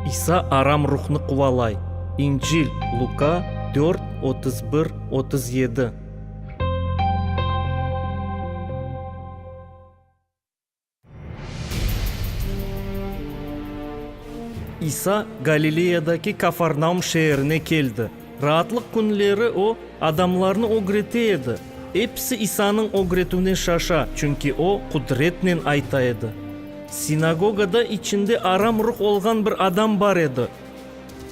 İsa aram ruhnı quvalay. İncil, Luka, dört, otuz bir, otuz yedi. İsa Galileyadaki Kafarnaum şeerine keldi. Raatlıq künleri o, adamlarnı ögrete edi. Episi İsanıñ ögretüvine şaşa, çünki o, qudretnen ayta edi. Sinagogada içinde aram ruh olğan bir adam bar edi.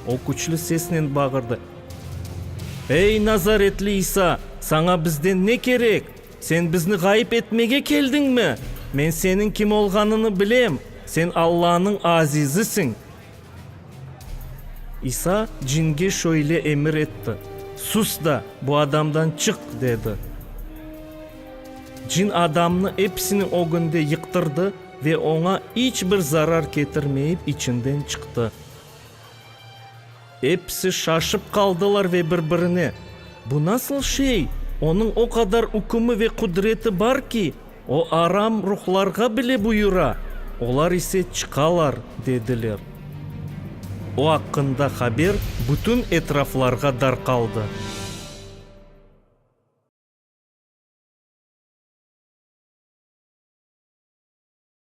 O küçlü sesnen bağırdı, Ey, nazaretli İsa, saña bizden ne kerek? Sen bizni ğayıp etmege keldiñmi? Men seniñ kim olğanını bilem, sen Allanıñ Azizisiñ! İsa cinge şöyle emir etti, Sus da, bu adamdan çık! dedi. Cin adamnı episiniñ ögünde yıqtırdı ve oña iç bir zarar ketirmeyip içinden çıqtı. Episi şaşıp qaldılar ve bir-birine, Bu nasıl şey, onıñ o qadar ükümi ve qudreti bar ki, O aram ruhlarğa bile buyura, olar ise çıqalar, dediler. O aqqında haber bütün etraflarğa darqaldı.